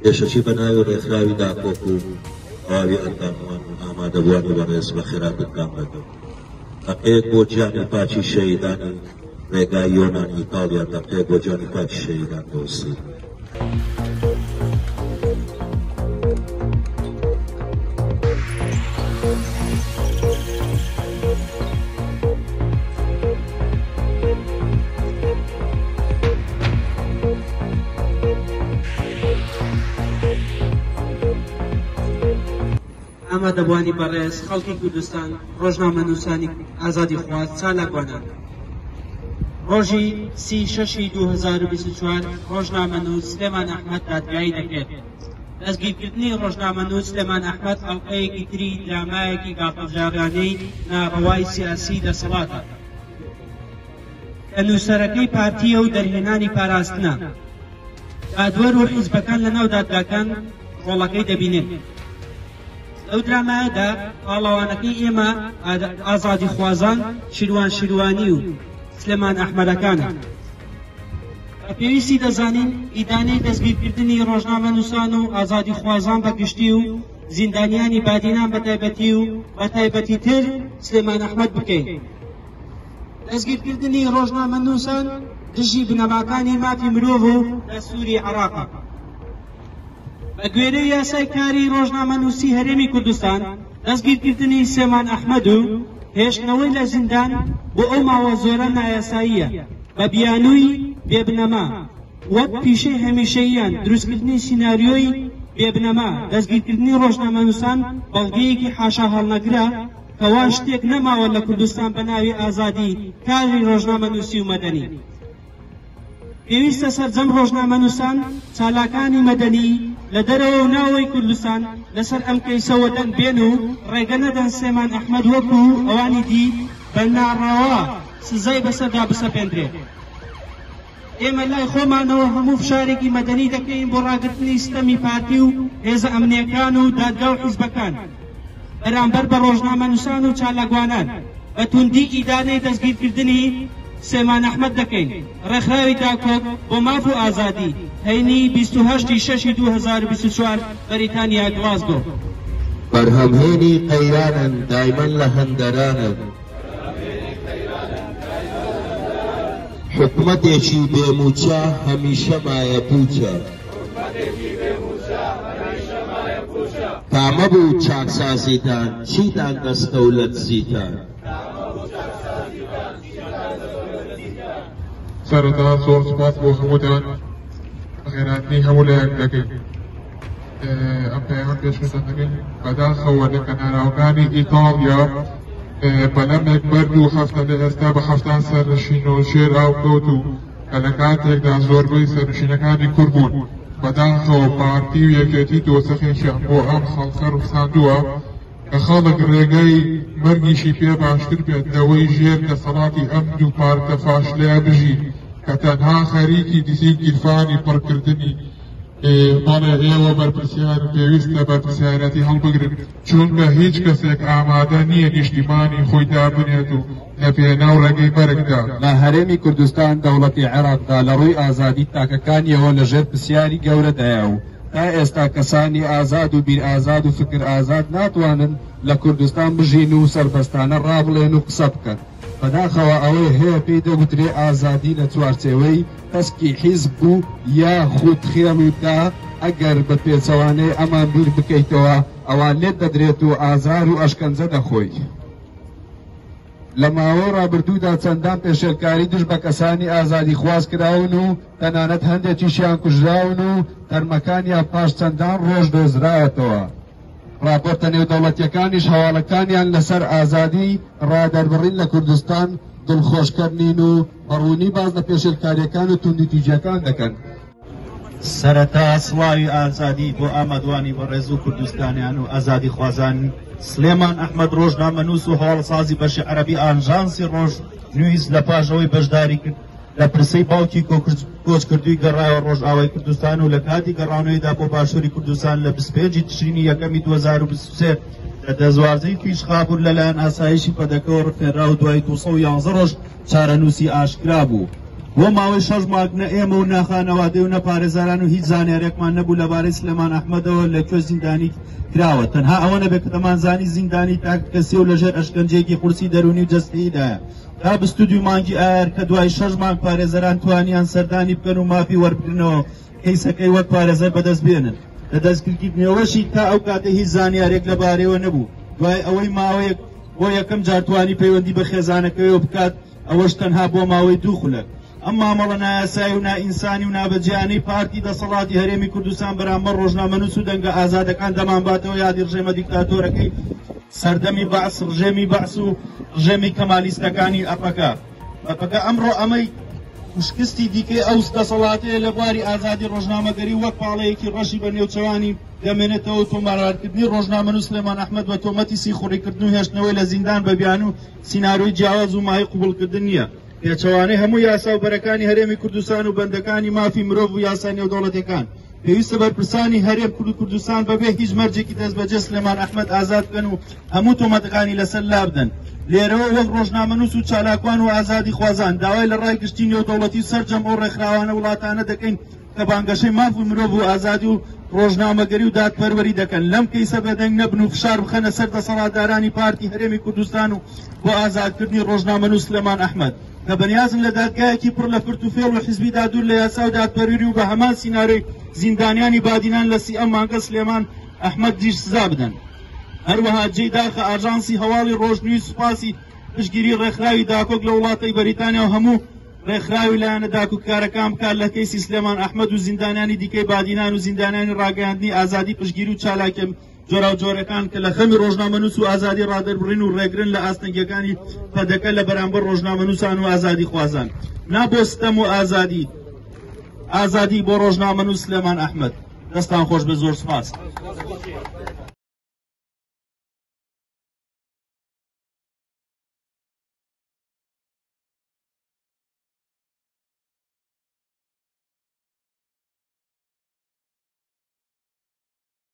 پێشەکی بە ناوی ڕێکخراوی داکۆک و تەواوی ئەنداموان و ئامادەبووانی بەڕێز بە خێراتتان دەکەم هەقەیەک بۆ گیانی پاچی شەیدانی ڕێگای یۆنان ئیتاڵیا دەقەیەک بۆ گیانی پاچی شەیدان دۆسی ئامادەبووانی بەڕێز خەڵکی کوردستان ڕۆژنامەنووسانی ئازادی خواز چالاکوانان ڕۆژی سی شەشی 2024 ڕۆژنامەنووس سلێمان ئەحمەد دادگایی دەکرێت دەستگیرکردنی ڕۆژنامەنووس سلێمان ئەحمەد ئەڵقەیەکی تری درامایەکی گاڵتەجاڕیانەی ناڕەوای سیاسی دەسەڵاتە کە نووسەرەکەی پارتییە و دەرهێنانی پاراستنە. دادوەر و حیزبەکان لەناو دادگاکان ڕۆڵەکەی دەبینێت. لەو درامایەدا پاڵەوانەکەی ئێمە ئازادی خوازان شیروان شیروانی و سلێمان ئەحمەدەکانە. بە پێویستی دەزانین ئیدانەی دەستگیرکردنی ڕۆژنامەنووسان و ئازادیخوازان بە گشتی و زیندانیانی بادینان بە تایبەتی و بە تایبەتیتر سلێمان ئەحمەد بکەین. دەستگیرکردنی ڕۆژنامەنووسان دژی بنەماکانی مافی مرۆڤ و دەستووری عێراقە. بە گوێرەی یاسای کاری ڕۆژنامەنووسی هەرێمی کوردستان، دەستگیرکردنی سلێمان ئەحمەد و هێشتنەوەی لە زیندان بۆ ئەو ماوە زۆرە نایاساییە. بە بیانووی بێ بنەما وەک پیشەی هەمیشەییان دروستکردنی سیناریۆی بێ بنەما، دەستگیرکردنی ڕۆژنامەنووسان بەڵگەیەکی حاشاهەڵنەگرە کە وا شتێک نەماوە لە کوردستان بە ناوی ئازادی کاری ڕۆژنامەنووسی و مەدەنی. پێویستە سەرجەم ڕۆژنامەنووسان چالاکانی مەدەنی لە دەرەوە و ناوەوەی کوردستان لەسەر ئەم کەیسە وەدەنگ بێن و ڕێگە نەدەن سلێمان ئەحمەد وەکوو ئەوانی دی بە ناڕەوا سزای بەسەردا بسەپێندرێت. ئێمە لای خۆمانەوە هەموو فشارێکی مەدەنی دەکەین بۆ ڕاگرتنی ستەمی پارتی و هێزە ئەمنیەکان و دادگا و حیزبەکان بەرامبەر بە ڕۆژنامەنووسان و چالاکوانان بە توندی ئیدانەی دەستگیرکردنی سێمان ئەحمەد دەکەین ڕێکخراوی داکۆک بۆ ماف و ئازادی هەینی بیست و هەشت ی شەش ی دوو هەزار و بیست و چوار بەریتانیا گڵاسگۆ. بەرهەمهێنی قەیرانن دایمەن لە هەندەرانن. حکومەتێکی بێ مووچە هەمیشە مایە پووچە تامە بوو چاکسازیتان چیتان دەستە و لە دزیتان سەرەتا زۆر سپاس بۆ هەمووتان خێراتنی هەموو لایەک دەکەین ئەم پەیامە پێشکەشە دەکەین بەداخەوە لە کەناراوەکانی ئیتاڵیا بەلەمێک بەرد و هەفتە لە ئێستا بە هەفتان سەرنشین و شێر ئاو کەوت و کە لە کاتێکدا زۆربەی سەرنشینەکانی کورد بوون بەداخەوە پارتی و یەکێتی دۆسەخێکیان بۆ ئەم خەڵکە ڕوخساندووە کە خەڵک ڕێگەی مەرگیشی پێ باشتر بێت لەوەی ژێر دەسەڵاتی ئەم دوو پارتە فاشلەیە بژی کە تەنها خەریکی دیسی گیرفانی پڕکردنی بەڵێ ئێوە بەرپرسیار پێویستە بەرپرسیارەتی هەڵبگرن چونکە هیچ کەسێک ئامادە نییە نیشتیمانی خۆی دابنێت و لە پێناو ڕێگەی بەرگدا لە هەرێمی کوردستان دەوڵەتی عێراقدا لە ڕووی ئازادی تاکەکانیەوە لە ژێر پرسیاری گەورەدایە و تا ئێستا کەسانی ئازاد و بیر ئازاد و فکر ئازاد ناتوانن لە کوردستان بژین و سەربەستانە ڕابڵێن و قسە بکەن بەداخەوە ئەوەی هەیە پێی دەگوترێ ئازادی لە چوارچێوەی تەسکی حیزب بوو یا خود خێڵ و دا، ئەگەر بە پێچەوانەی ئەمان بیر بکەیتەوە ئەوا لێت دەدرێت و ئازار و ئەشکەنجە دەخۆی. لە ماوەی ڕابردوودا چەندان پێشێلکاری دژ بە کەسانی ئازادی خواز کراون و تەنانەت هەندێکیشیان کوژراون و تەرمەکانیان پاش چەندان ڕۆژ دۆزراوەتەوە. ڕاپۆرتە نێودەوڵەتیەکانیش هەواڵەکانیان لە سەر ئازادی ڕادەربڕین لە کوردستان دڵخۆشکەر نین و بە ڕوونی باس لە پێشێلکاریەکان و توندی تیژەکان دەکەن. سەرەتا سڵاوی ئازادی بۆ ئامادوانی بەڕێز و کوردستانیان و ئازادی خوازان سلێمان ئەحمد ڕۆژنامە نووس و هەواڵسازی بەشی عەربی ئانژانسی ڕۆژ نویز لە پاژەوەی بەشداری کرد لە پرسەی باوکی کۆچکردوی گەڕایەوە ڕۆژئاوای کوردستان و لە کاتی گەڕانەوەیدا بۆ باشووری کوردستان لە بسپێنجی تشرینی یەکەمی 2023 لە دەزوازەی فیش خابور لەلایەن ئاسایشی پەدەکەەوە ڕفێنرا و دوای 211 ڕۆژ چارەنووسی ئاشکرا بوو. بۆ ماوەی شەش مانگ نە ئێمە و نە خانەوادەی و نە پارێزەران و هیچ زانیارێکمان نەبوو لەبارەی سلێمان ئەحمەدەوە لە کوێ زیندانی کراوە تەنها ئەوە نەبێت کە دەمانزانی زیندانی تاک کەسی و لەژێر ئەشکەنجەیەکی قورسی دەروونی و جەستەییدایە تا بیست و دوو مانگی ئایار کە دوای شەش مانگ پارێزەران توانیان سەردانی بکەن و مافی وەربگرنەوە کەیسەکەی وەک پارێزەر بەدەست بێنن لە دەستگیرکردنیەوەشی تا ئەو کاتە هیچ زانیارێک لەبارەیەوە نەبوو دوای ئەوەی ماوەیەک بۆ یەکەم جار توانی پەیوەندی بە خێزانەکەیەوە بکات ئەوەش تەنها بۆ ماوەی دوو خولەک ئەم مامەڵە نایاسایی و نائینسانی و نابەجیانەی پارتی دەسەڵاتی هەرێمی کوردستان بەرامبەر ڕۆژنامەنووس و دەنگە ئازادەکان دەمانباتەوە یادی ڕژێمە دیکتاتۆرەکەی سەردەمی بەعس ڕژێمی بەعس و ڕژێمی کەمالیستەکانی ئەپەکە بەپەکە ئەمڕۆ ئەمەی شکستی دیکەی ئەو دەسەڵاتەیە لە بواری ئازادی ڕۆژنامەگەری وەک پاڵەیەکی ڕەشی بە نێوچەوانی دەمێنێتەوە تۆمارکردنی ڕۆژنامە نووسلێمان ئەحمد بە تۆمەتی سیخوڕیکردن و هێشتنەوەی لە زیندان بە بیان و سینناروی جیاواز و مای قوبولکردن نییە پێچەوانەی هەموو یاسا و بەرەکانی هەرێمی کوردستان و بەندەکانی مافی مرۆڤ و یاسا نێودەوڵەتەکان پێویستە بەرپرسانی هەرێم کورد و کوردستان بەبێ هیچ مەرجێکی دەست بەجێ سلێمان ئەحمد ئازاد بکەن و هەموو تۆمەتەکانی لەسەر لابدەن لێرەوە وەک ڕۆژنامەنووس و چالاکوان و ئازادی خوازان داوای لە ڕای گشتی نێودەوڵەتی و سەرجەم ئەو ڕێکخراوانە وڵاتانە دەکەین کە بانگەشەی ماف و مرۆڤ و ئازادی و ڕۆژنامەگەری و دادپەروەری دەکەن لەم کەیسە بەدەنگ نەبن و فشار بخەنە سەر دەسەڵاتدارانی پارتی هەرێمی کوردستان و بۆ ئازادکردنی ڕۆژنامەنووس سلێمان ئەحمد کە بەنیازن لە دادگایەکی پڕ لە فرت و فێڵ و حزبیدا دوور لە یاسا و دادپەروری و بە هەمان سینارۆی زیندانیانی بادینان لە سی ئەم مانگە سلێمان ئەحمد دیش سزا بدەن هەروەها جێی داخە ئاژانسی هەواڵی ڕۆژنوی سوپاسی پشگیری ڕێکخراوی داکۆک لە وڵاتی بەریتانیا و هەموو ڕێکخراوی لایەنە داکوکارەکان بکات لە کەیسی سلێمان ئەحمد و زیندانانی دیکەی بادینان و زیندانانی ڕاگەاندنی ئازادی پشگیر و چالاکە جۆراوجۆرەکان کە لە خەمی ڕۆژنامەنووس و ئازادی ڕادەربڕین و ڕێگرن لە ئاستەنگەکانی پەدەکە لە بەرامبەر ڕۆژنامەنووسان و ئازادی خوازان نابۆستەم و ئازادی ئازادی بۆ ڕۆژنامەنووس لەمان ئەحمد دەستان خۆش بە زۆر سپاس.